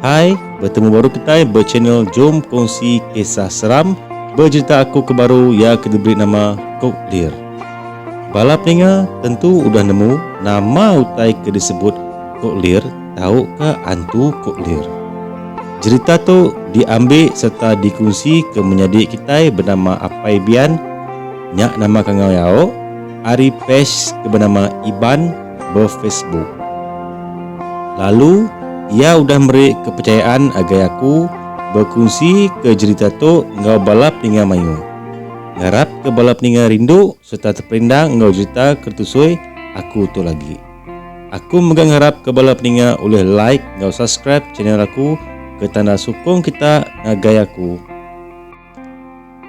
Hai, bertemu baru kitai ba channel Jom Kongsi Kisah Seram bejerita aku ke baru iya ke diberi nama Kok Lir. Bala peninga tentu udah nemu nama utai ke disebut Kok Lir tauka antu Kok Lir. Jerita tu diambi serta dikunsi ke menyadi kitai benama Apai Bian, nya nama kangau iya, ari page ke benama Iban ba Facebook. Lalu, iya udah meri kepercayaan agai aku bekunsika jerita tu enggau bala peninga mayuh. Ngarapka bala peninga rindu sereta teperindang enggau jerita ke ditusui aku tu lagi. Aku mega ngarapka bala peninga ulih like enggau subscribe channel aku ke tanda sukung kita ngagai aku.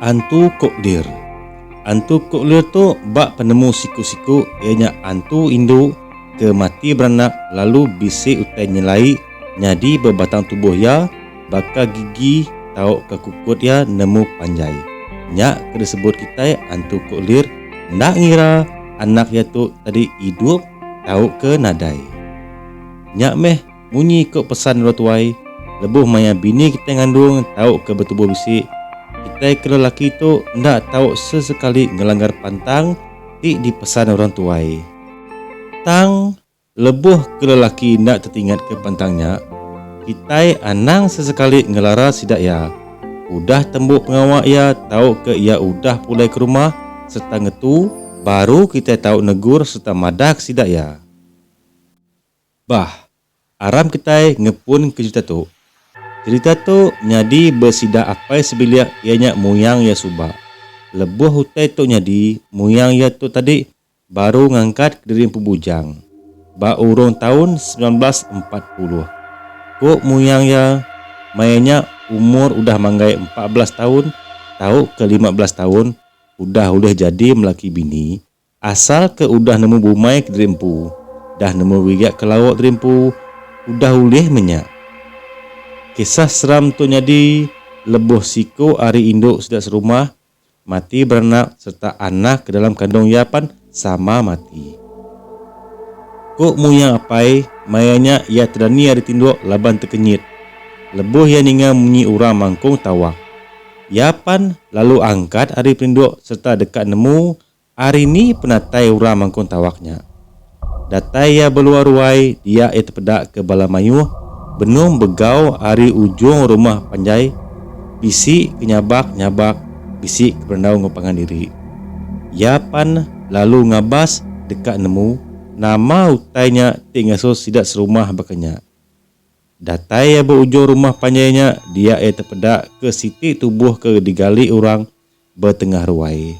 Antu Kok Lir Antu Kok Lir tu ba penemu siku-siku iya nya antu indu ke mati beranak lalu bisi utai nyelai nyadi ba batang tubuh iya baka gigi tauka kukut iya nemu panjai. Nya ke disebut kitai Antu Kok Lir enda ngira anak iya tu tadi idup tauka nadai. Nya meh. Munyi ko pesan endur tuai, lebuh maya bini kitai ngandung tau ke betubuh bisi, kitai ke lelaki tu enda tau sesekali ngelanggar pantang ti dipesan orang tuai. Tang, lebuh ke lelaki enda tetingatka pantang nya, kitai anang sesekali ngelara sida iya, udah tembu pengawa iya tau ke iya udah pulai ke rumah sereta ngetu, baru kitai tau negur sereta madahka sida iya. Bah, aram kitai ngepunka cherita tu. Cherita tu nyadi besida apai sebilik iya nya muyang iya suba. Lebuh utai tu nyadi, muyang iya tu tadi baru ngangkatka diri empu bujang ba urung taun semilan belas empat puluh. Ku muyang iya, maya nya umur udah manggai empat belas taun tauka lima belas taun udah ulih jadi melaki bini Asal ke udah nemu bumai kediri empu, dah nemu biga ke lauk diri empu, udah ulih menya. Kisah seram tu nyadi lebuh siku ari indu sida serumah mati beranak sereta anak ke dalam kandung iya pan sama mati. Ku muyang apai, maya nya iya tedani ari tinduk laban tekenyit lebuh iya ninga munyi urang mangkung tawak. Iya pan lalu angkat ari peninduk sereta deka nemu Ari ni penatai orang mangkung tawak nya? Datai iya beluar ruai dia iya tepeda ke bala mayuh benung begau ari ujung rumah panjai bisi ke nyabak nyabak bisi ke berendau enggau pangan diri. Iya pan lalu ngabas deka nemu nama utai nya ti ngasuh sida serumah baka nya. Datai iya ba ujung rumah panjai nya dia iya tepeda ke siti tubuh ke digali orang ba tengah ruai.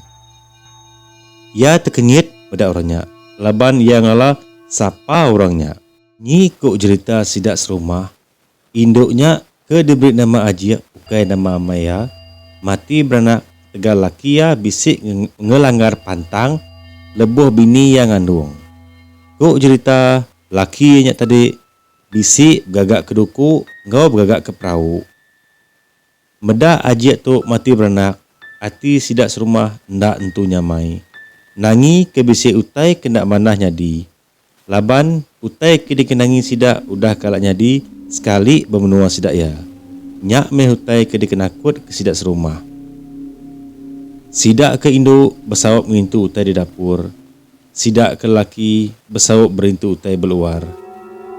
Iya tekengit meda orang nya laban iya ngala sapa orang nya. Nyi ku jerita sida serumah, indu nya ke diberi nama Ajik ukai nama amai iya, mati beranak ketegal laki iya bisi ngelanggar pantang lebuh bini iya ngandung. Ku jerita, laki iya nya tadi bisi begagaka duku enggau begagaka perau. Meda ajik tu mati beranak, ati sida serumah enda entu nyamai. Nangi ke bisi utai ke enda manah nyadi. Laban, utai ke dikenangi sida udah kala nyadi sekali ba menua sida iya. Nya meh utai ke dikenakutka sida serumah. Sida ke indu besaup ngintu utai di dapur. Sida ke laki besaup berintu utai beluar.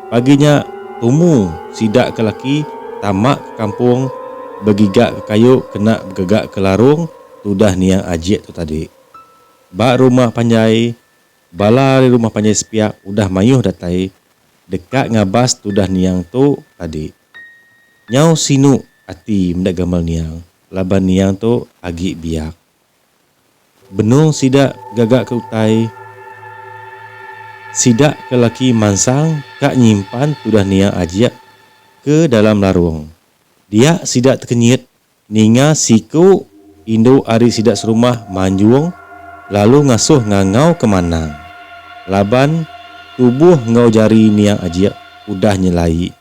Pagi nya, tumu sida ke laki tama ke kampung begiga ke kayu kena begega ke larung tudah niang Ajik tu tadi. Ba rumah panjai, bala ari rumah panjai sepiak udah mayuh datai deka ngabas tudah niang tu tadi. Nyau sinu ati meda gamal niang laban niang tu agi biak. Benung sida gaga ke utai sida ke laki mansang ka nyimpan tudah nia ajik ke dalam larung. Dia sida tekenyit ninga siku indu ari sida serumah manjung lalu ngasuh ngangau ke manang laban tubuh enggau jari nia ajik udah nyelai.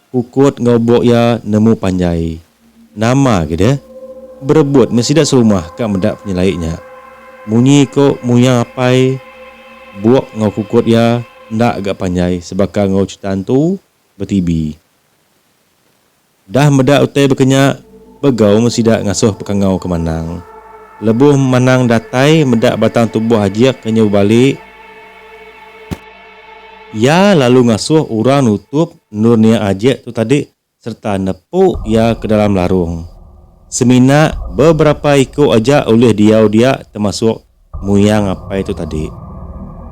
Kukut enggau buk iya nemu panjai. Nama agi deh. Berebut meh sida serumah ka meda penyelai nya. Munyi ko Muya Apai, buk enggau kukut iya enda ga panjai sebaka enggau chita entu betibi. Dah meda utai bekenya, begau meh sida ngasuh pekangau ke Manang. Lebuh Manang datai meda batang tubuh Ajik ke nyau bebali, Iya lalu ngasuh orang nutup endur nia ajek tu tadi sereta nepu iya ke dalam larung. Semina beberapa iku aja ulih diau dia temasuk muyang apai tu tadi.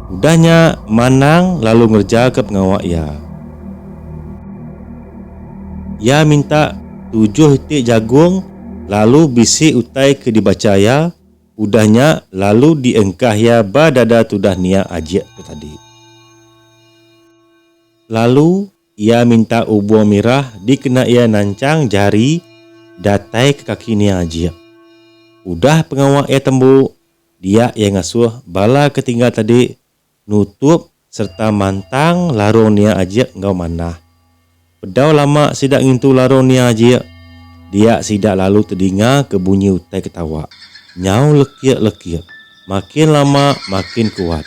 Udah nya Manang lalu ngerejaka pengawa iya. Iya minta tujuh iti jagung lalu bisi utai ke dibacha iya Udah nya lalu diengkah iya ba dada tudah nia ajik tu tadi. Lalu iya minta ubung mirah dikena iya nanchang jari datai ke kaki nia ajik. Udah pengawa iya tembu, dia iya ngasuh bala ke tinggal tadi nutup sereta mantang larung nia ajik enggau manah. Bedau lama sida ngintu larung nia ajik, dia sida lalu tedinga ke bunyi utai ketawa nyau lekik-lekik makin lama makin kuat.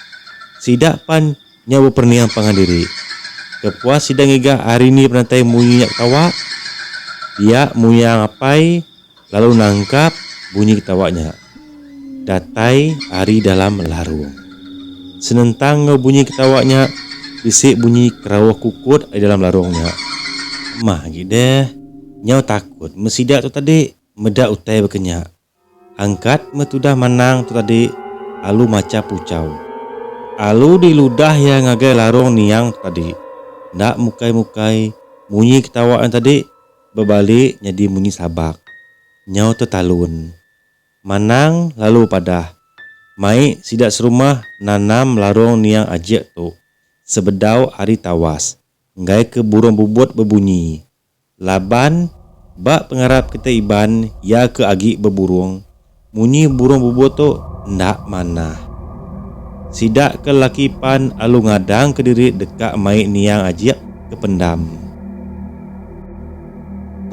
Sida pan nyau beperening pangan diri. Kepuas sida ngiga ari ni penatai munyi nya ketawa? Dia muyang apai. Lalu nangkap bunyi ketawa nya. Datai ari dalam larung. Senentang enggau bunyi ketawa nya, bisi bunyi kerauh kukut ari dalam larung nya. Emah agi deh. Nyau takut meh sida tu tadi meda utai baka nya. Angkat meh tudah manang tu tadi alu macha puchau. Alu diludah iya ngagai larung niang tu tadi. Enda mukai-mukai munyi ketawa nya tadi. Bebalik nyadi munyi sabak. Nyau tu talun. Manang lalu bepadah, Mai sida serumah nanam larong niang ajek tu sebedau ari tawas enggai ke burong bubut bebunyi. Laban ba pengarap kitai Iban iya ke agi beburong. Munyi burung bubuh tu enda manah. Sida ke laki pan alu ngadang ke diri deka mai niang ajik ke pendam.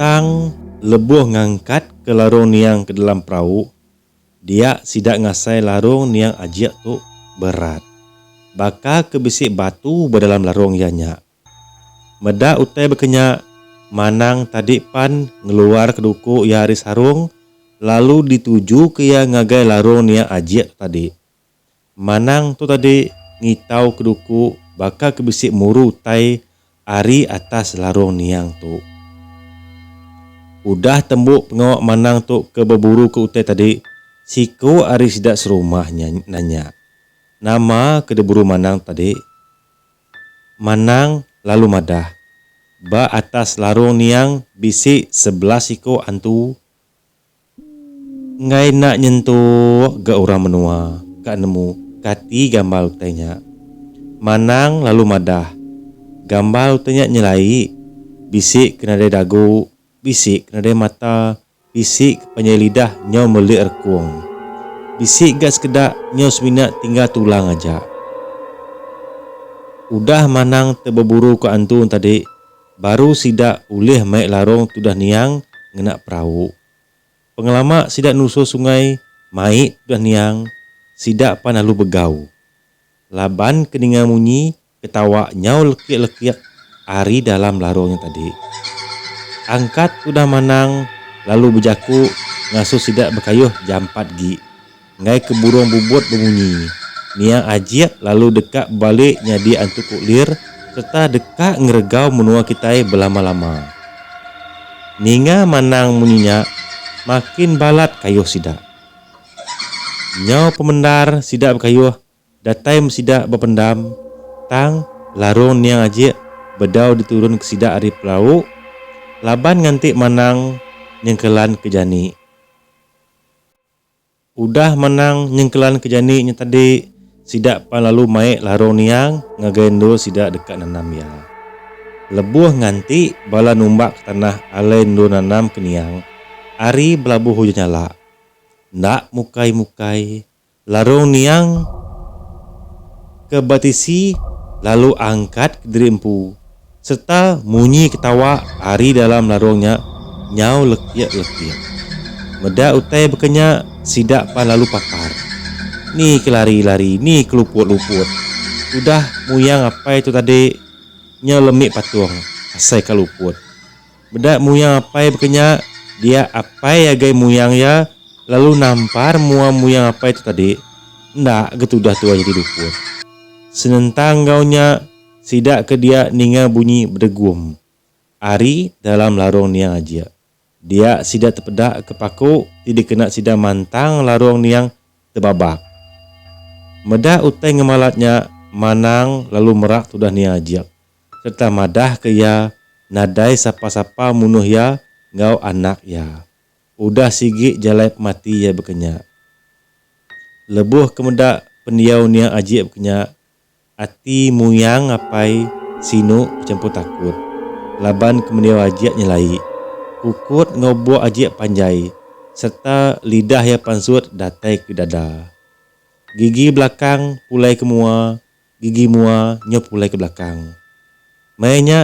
Tang lebuh ngangkat ke larung niang ke dalam perau, dia sida ngasai larung niang ajik tu berat. Baka ke bisi batu ba dalam larung iya nyak. Meda utai baka nya, Manang tadi pan ngeluarka duku iya ari sarung lalu ditujuka iya ngagai larung nia ajik tu tadi. Manang tu tadi ngitauka duku baka ke bisi muru utai ari atas larung niang tu. Udah tembu pengawa Manang tu ke beburuka utai tadi, siku ari sida serumah nanya, Nama ke diburu Manang tu tadi? Manang lalu madah, Ba atas larung niang bisi sebelas iko antu enggai enda nyentuk ga urang menua ka nemu kati gambar utai nya. Manang lalu madah, Gambar utai nya nyelai, bisi ke nadai dagu, bisi ke nadai mata, Bisi ke panjai lidah nyau melik rekung. Bisi ga sekeda nyau semina tinggal tulang aja. Udah manang te beburu ke antun tadi baru sida ulih mai larong tudah niang ngena perau. Pengelama sida nusul sungai mai tudah niang sida pan lalu begau. Laban ke ninga munyi Ketawa nyau lekik-lekik ari dalam larung nya tadi. Angkat udah manang lalu bejaku ngasuh sida bekayuh jampat gi. Enggai ke burung bubut bemunyi. Nia ajik lalu deka bebali nyadi antu kuklir sereta deka ngeregau menua kitai belama-lama. Ninga manang munyi nya, makin balat kayuh sida. Nyau pemendar sida bekayuh Datai meh sida bependam, tang larung niang ajik bedau diturun ke sida ari pelau, laban nganti manang nyengkelan ke jani. Udah manang nyengkelan ke jani nya tadi, sida pan lalu mai larung niang ngagai endur sida deka nanam iya. Lebuh nganti bala numbak ke tanah alai endur nanam ke niang, ari belabuh ujan nyalak. Enda mukai-mukai, Larung niang ke baptisi lalu angkat ke diri empu sereta munyi ketawa ari dalam larung nya nyau lekik-lekik. Meda utai baka nya, sida pan lalu papar, Ni ke lari-lari, ni ke luput-luput. Tudah muyang apai tu tadi nyau lemi patung asai ka luput. Meda muyang apai baka nya, dia apai agai muyang iya lalu nampar mua muyang apai tu tadi. Enda ga tudah tuai nyadi dukun. Senentang enggau nya, sida ke dia ninga bunyi bedegum ari dalam larung niang aja. Dia sida tepeda ke paku ti dikena sida mantang larung niang tebabak. Meda utai ngemalat nya, Manang lalu merak tudah niang aja. sereta madahka iya nadai sapa-sapa munuh iya enggau anak iya. Udah sigi jalai pemati iya baka nya. Lebuh ke meda pendiau nia Ajik baka nya, ati Muyang Apai Sinu bechampur takut laban ke mendiau Ajik nyelai, kukut enggau buk Ajik panjai sereta lidah iya pansut datai ke dada. Gigi belakang pulai ke mua Gigi mua nyup pulai ke belakang. Maya nya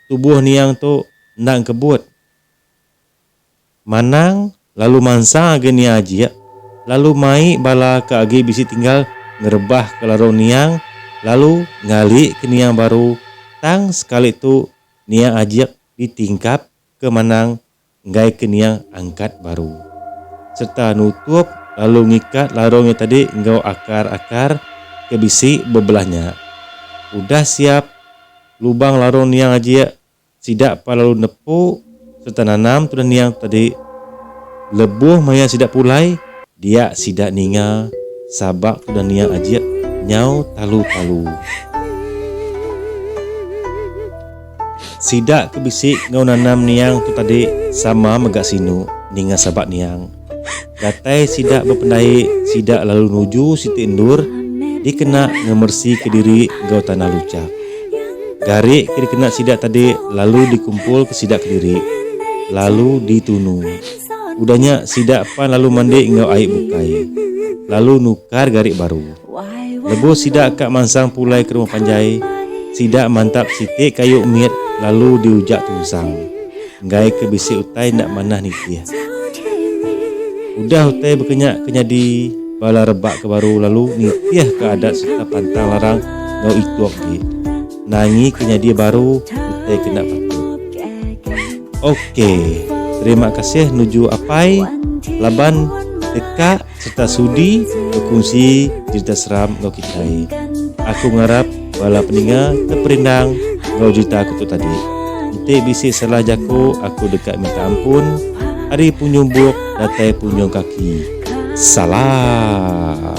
tubuh Niang tu enda engkebut. Manang lalu mansa agi Nia Ajik lalu mai bala ke agi bisi tinggal ngerebahka larung Niang lalu ngalika Niang baru tang sekali tu Nia Ajik ditingkap ke Manang enggaika nia angkat baru sereta nutup lalu ngikat larung nya tadi enggau akar-akar ke bisi bebelah nya. Udah siap, lubang larung niang aja sida pan lalu nepu sereta nanam tudah niang tadi. Lebuh maya sida pulai, dia sida ninga sabak tudah niang aja nyau talu-talu. Sida ke bisi enggau nanam niang tu tadi sama mega sinu ninga sabat niang. Datai sida bependai sida lalu nuju siti endur dikena ngemersika diri enggau tanah luchak. Gari ke dikena sida tadi lalu dikumpulka sida kediri lalu ditunu. Udah nya sida pan lalu mandi enggau ai bukai lalu nukar gari baru. Lebuh sida ka mansang pulai ke rumah panjai, sida mantap siti kayu mit lalu diujak tunsang, enggai ke bisi utai enda manah nitih. Udah utai bekenya ke nyadi, bala rebak ke baru lalu nitih ka adat sereta pantang larang enggau ituk di nangi ke nyadi baru utai ke enda patut. Ok. Terima kasih nuju apai laban deka. Serta sudi bekunsi cerita seram enggau kitai. Aku ngarap bala peninga teperindang enggau cerita aku tu tadi. Enti bisi salah jaku aku deka minta ampun ari punjung buk datai punjung kaki. Salam.